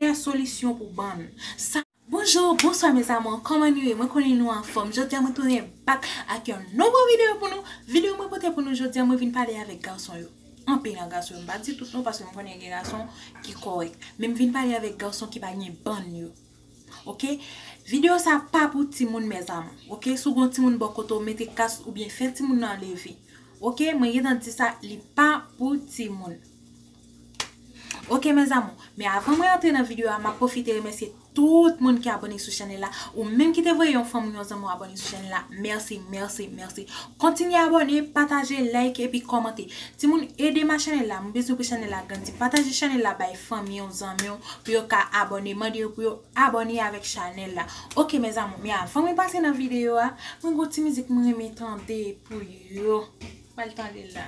Meilleur solution pou bann sa. Bonjour, bonsoir mes amours, kòman nou ye, mwen konnen nou anfòm, jodia mwen tounen back ak yon nouvo video pou nou, video mwen pote pou nou jodia mwen vin pale avèk gason yo, anpil nan gason yo, m pa di tout non paske m konnen gen gason ki kòrèk, men m vin pale avèk gason ki pa gen bann yo ok, video sa pa pou timoun mes amours ok, si w gen yon timoun bò kote w mete kas oubyen fè timoun nan leve ok, mwen gentan di sa li pa pou timoun. Ok mes amour, men avan mwen antre nan video a map profite remèsye tout moun ki abone sou chanèl la, ou menm ki te voye yon fanm ou yon zanmi w abone sou chanèl la, mèsi, mèsi, mèsi. Kontinye abone, pataje, like epi kòmante. Timoun edem a chanèl la, mwen bezwen pou chanèl la grandi. Pataje chanèl la bay fanmi w, zanmi w pou yo ka abone, mande yo pou yo abone avèk chanèl la. Ok mes amour, men avan mwen pase nan video a, mwen gen yon ti mizik mwen renmen tande pou yo. Bal tande la.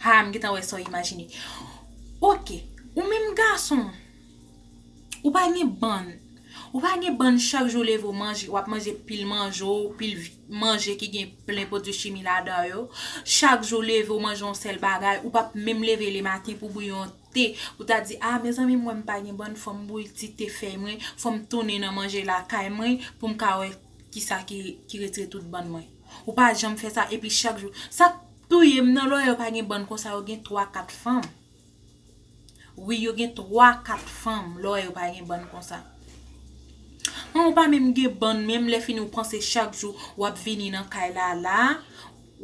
Haa m gentan wè sa w imajine. Ok, ou menm gason, ou pa gen bann, ou pa gen bann chak jou w leve w manje, w ap manje pil manje w, pil manje ki gen plen pwodui chimi ladan yo. Chak jou w leve w manje yon sèl bagay, ou pa p menm leve le maten pou w bouyi yon te, pou w ta di, a mezanmi m wè m pa gen bann, fò m bouyi ti te fèy mwen, fò m tounen nan manje lakay mwen pou m ka wè kisa ki retire tout bann mwen. Ou pa janm fè sa epi chak jou. Touyem nan lawyer pa gen bann konsa yo gen 3 4 fanm wi yo gen 3 4 fanm lawyer yo pa gen bann konsa an ou pa menm gen bann menm lè fini ou panse chak jou wap vini nan kay la la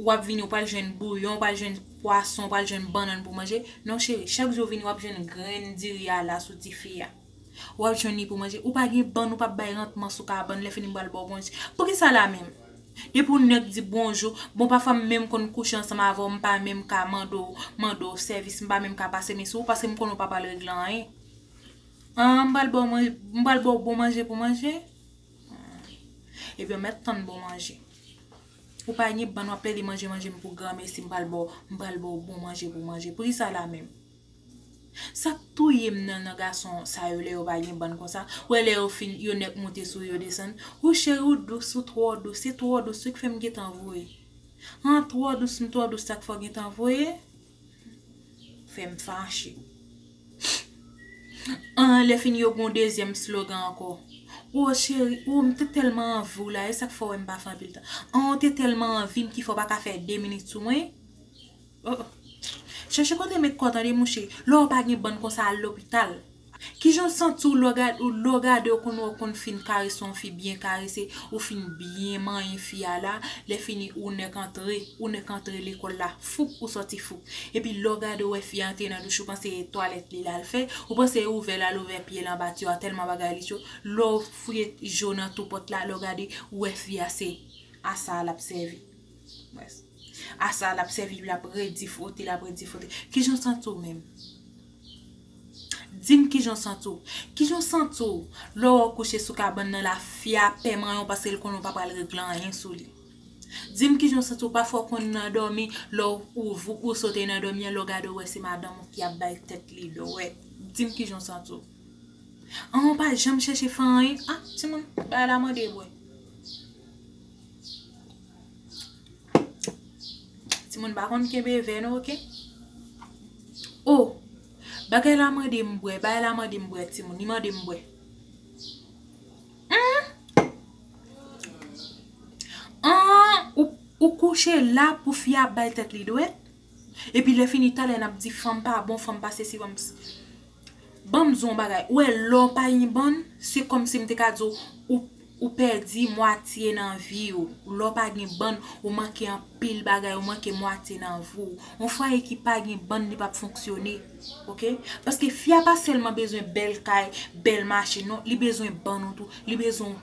wap vini ou pral jwenn bouyon ou pral jwenn pwason ou pral jwenn bannann pou manje non cheri chak jou ou vini wap jwenn grenn diri a la sou tifi a. Wap jwenn li pou manje. Ou pa gen bann ou pap bay rantman sou kabann lè fini m pral baw bonjou. Poukisa la menm? Depi yon nèg di bonjou, bon pafwa m menm konn kouche ansanm avèw m pa menm ka mande w mande w sèvis m pa menm ka pase men sou ou paske m konnen w pa pral regle anyen. An m pral baw manje m pral baw bon manje pou manje? Ebyen mèt tann bon manje. Ou pa gen bann wap plede manje manje m pou granmesi m pral baw m pral baw bon manje pou manje. Poukisa la menm? Sak touyem nan nan gason sa yo lè yo pa gen bann konsa ou wè lè yo fin yo nèk moute sou yo desann hoo cheri ou dous ou twò dous se twò dous wi ki fèm gentan voye han twò dous m twò dous sak fè w gentan voye fèm fache anh lè fin yo gon dezyèm slogan ankò oo cheri oo m te tèlman anvi w la esak fè w wè m pa fè anpil tan anh ou te tèlman anvi m ki fè w paka fè 2 minit sou mwen. Oh Chèche kote met kò tande mouche, lè w pa gen bann konsa al lopital. Kijan w santi w lè w gade w konn wè w konn fin karese yon fi byen karese, ou fin byen manyen fi a la, lèfini ou nèk antre, ou nèk antre lekòl la foup ou sòti foup. Epi lè w gade w wè fi a antre nan douch ou panse e twalèt li lal fè, ou panse e ouvè lal ouvè pye l anba tiwa tèlman bagay li cho, lè w fouye je w nan tou pòt la lè w gade ou wè fi a se a sa a lap sèvi. Mès. A sa lap sèvi li ap redi fwote lap redi fwote kijan w santi w menm di m kijan w santi w kijan w santi w lè w wè w kouche sou kabann nan la fi a pè manyen w paske l konnen w pa pral regle anyen sou li di m kijan w santi w pafwa w konn nan dòmi lè w ouvri ou sote nan dòmi an lè w gade w wè se madanm ou ki ap bay tèt li dwèt di m kijan w santi w an w pa janm chèche fè anyen a timoun bay la mande bwè. Timoun pa konn kenbe vè non ok. Oh bagay la mande m bwè, bagay la mande m bwè timoun, li mande m bwè. Ou kouche la pou fi a ap bay tèt li dwèt, epi lè fini talè n ap di fanm pa bon, fanm pa sesi fanm. Banm di w yon bagay, ou wè lè w pa yn bann, se kòmsi m te ka di w ou pèdi mwatye nan vi w, lè w pa gen bann ou manke anpil bagay, ou manke mwatye nan vi w. Yon fwaye ki pa gen bann li pap fonksyone, ok. Paske fi a pa sèlman bezwen bèl kay, bèl machin non, li bezwen bann ou tou, li bezwen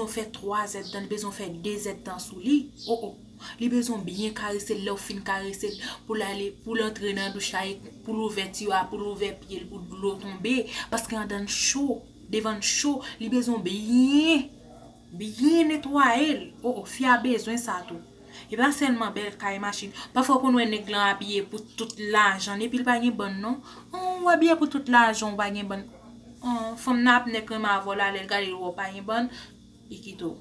w fè 3 zèdtan, li bezwen w fè 2 zèdtan sou li, o o. Li bezwen w byen karese l, lè w fin karese l, pou l ale, pou l antre nan douch la, pou l ouvè tiyo a, pou l ouvè pye l, pou dlo tonbe, paske andan l cho, devan l cho, li bezwen w byen, byen netwaye l. O o, fi a bezwen sa tou. E pa sèlman bèl kay, machin. Pafwa ou konn wè nèg lan abiye pou tout lajan l, epi l pa gen bann non. An, ou abiye pou tout lajan w, ou pa gen bann. An, fanm nan ap nèk renmen avè w la, lè l gade l wè w pa gen bann, Ikito.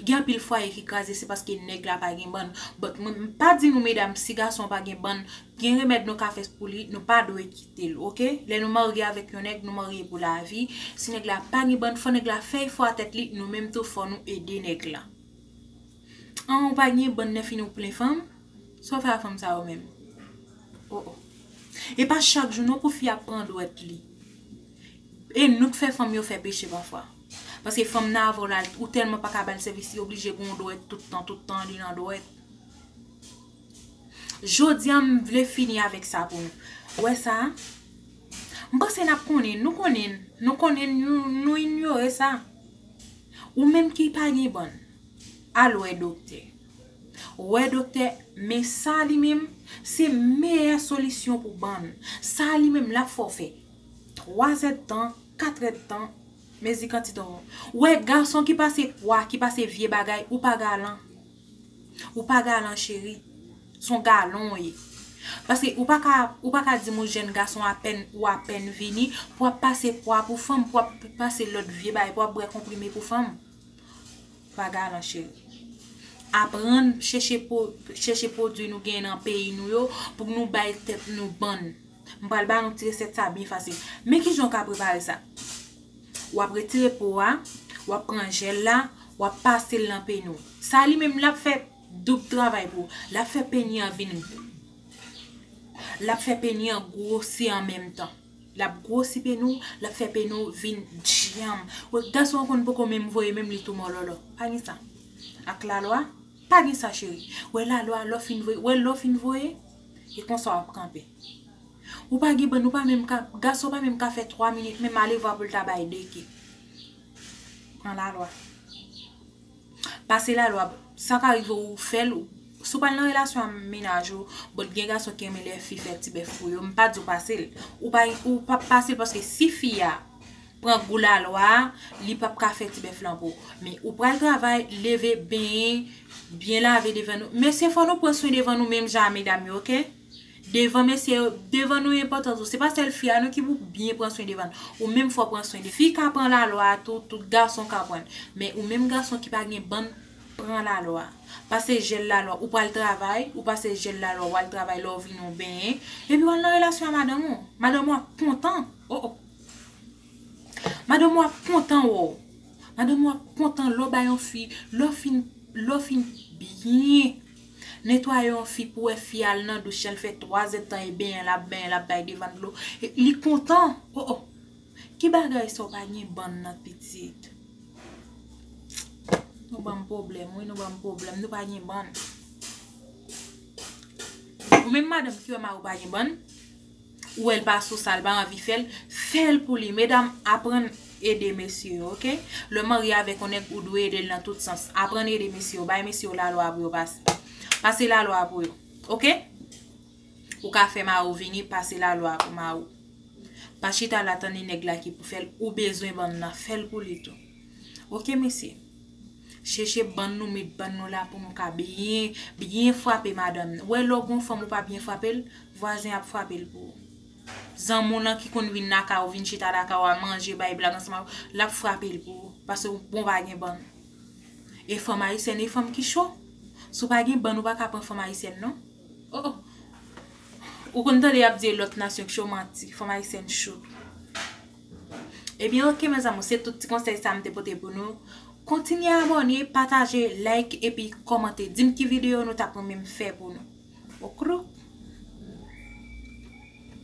Gen anpil fwaye ki kraze se paske nèg la pa gen bann. But mwen pa di nou medam si gason an pa gen bann, gen remèd nou ka fè pou li, nou pa dwe kite l ok. Lè nou marye avèk yon nèg, nou marye pou lavi. Si nèg la pa gen bann, fò nèg la fè efò a tèt li, nou menm tou fò nou ede nèg la. An ou pa gen bann lèfini ou plen fanm, sa w fè a fanm sa yo menm? Oh oh. E pa chak jou non pou fi a pran dwèt li. E nou k fè fanm yo fè peche pafwa. Paske fanm nan avan w la ou tèlman pa ka ba l sèvis li oblije gen yon dwèt tout tan, tout tan li nan dwèt. Jodi a m vle fini avèk sa pou nou. Ou wè sa? M panse n ap konnen, nou konnen, nou konnen nou inyore sa. Ou menm ki pa gen bann, al wè doktè. Wè doktè, men sa li menm, se meyè solisyon pou bann. Sa li menm l ap fè w fè. 3 èd tan, 4 èd tan, mezi kantite ou. Wè gason ki pase pwa, ki pase vye bagay, ou pa galan. Ou pa galan cheri. Son galon ou ye. Paske ou pa ka, ou pa ka di m ou jèn gason apèn, ou apèn vini, pou wap pase pwa pou fanm, pou wap pase lòt vye bagay, pou wap bwè konprime pou fanm. Ou pa galan cheri. Aprann chèche po, chèche pwodui nou gen nan peyi nou yo, pou k nou bay tèt nou bann. M pral ba nou ti resèt sa byen fasil. Men ki jan ou ka prepare sa. W ap retire po a, w ap pran jèl la, w ap pase l nan peni w. Sa li menm l ap fè doub travay pou ou. L ap fè peni an vin gwo. L ap fè peni an gwosi an menm tan. L ap gwosi peni w, l ap fè peni w vin dyanm. Wè gason an konn poko menm voye menm li tou mòlòlò. Pa gen sa. Ak lalwa, pa gen sa cheri. Wè lalwa, lè w fin voye, wè lè w fin voye. E konsa wap kanpe. Ou pa gen bann ou pa menm ka, gason pa menm ka fè 3 minit menm alevwa pou l ta bay 2 ke. Pran la lwa. Pase la lwa, sa ka rive ou fè l, si w pral nan relasyon a mennaj ou, bon gen gason ki renmen lè fi fè ti bèf pou yo, m pa di w pase l, ou pa pase l paske si fi a. pran gou lalwa li pap ka fè ti bèf lan pou me ou pral travay leve benyen byen lave devan nou mesye fò nou pran swen devan nou menm jan a medam yo ok devan mesye yo devan nou enpòtan tou se pa sèl fi a non ki pou byen pran swen devan ou menm fò pran swen fi ka pran lalwa a tou tout gason ka pran men ou menm gason ki pa gen bann pran lalwa pase jel lalwa ou pral travay ou pase jel lalwa wal travay lè ou vini ou benyen epi wal nan relasyon a madanm ou madanm ou ap kontan oh oh. Madanm ou ap kontan wo. Madanm ou ap kontan lè w bay yon fi, lè w fin, lè w fin byen netwaye yon fi pou wè fi a al nan douch lè fè 3 zèd tan e benyen l ap benyen l ap bay devan dlo li kontan o o ki bagay sa w pa gen bann nan pitit nou banm pwoblèm wi nou banm pwoblèm nou pa gen bann ou menm madanm ki wè mari w pa gen bann ou wèl pa sou sal pa anvi fèl fèl pou li medam aprann ede mesye yo ok lèw marye avèk yon nèg ou dwe edel nan tout sans aprann ede mesye yo bay mesye yo lalwa pou yo pase pase lalwa pou yo ok ou ka fè mari ou vini pase lalwa pou mari ou pa chita la tande nèg la ki pou fèl ou bezwen banm nan fèl pou li tou ok mesye. Cheche bann nou met bann nou la pou nou ka byen byen frape madanm nan. Wè lè w gon fanm ou pa byen frape l, vwazen ap frape l pou ou. Zanmi w lan ki konn vin nan kay ou vin chita nan kay ou a manje bay blag ansanm avè w, l ap frape l pou ou. Pase ou bon pa gen bann. E fanm ayisyèn e fanm ki cho. Si w pa gen bann ou pa ka pran fanm ayisyèn non. O o! Ou konn tande y ap di e lòt nasyon ki cho manti. Fanm ayisyèn cho. Ebyen ok mes amours se tout ti konsèy sa m te pote pou nou Kontinye abòne, pataje, like epi kòmante Di m ki videyo nou tap renmen m fè pou nou Oukrouk.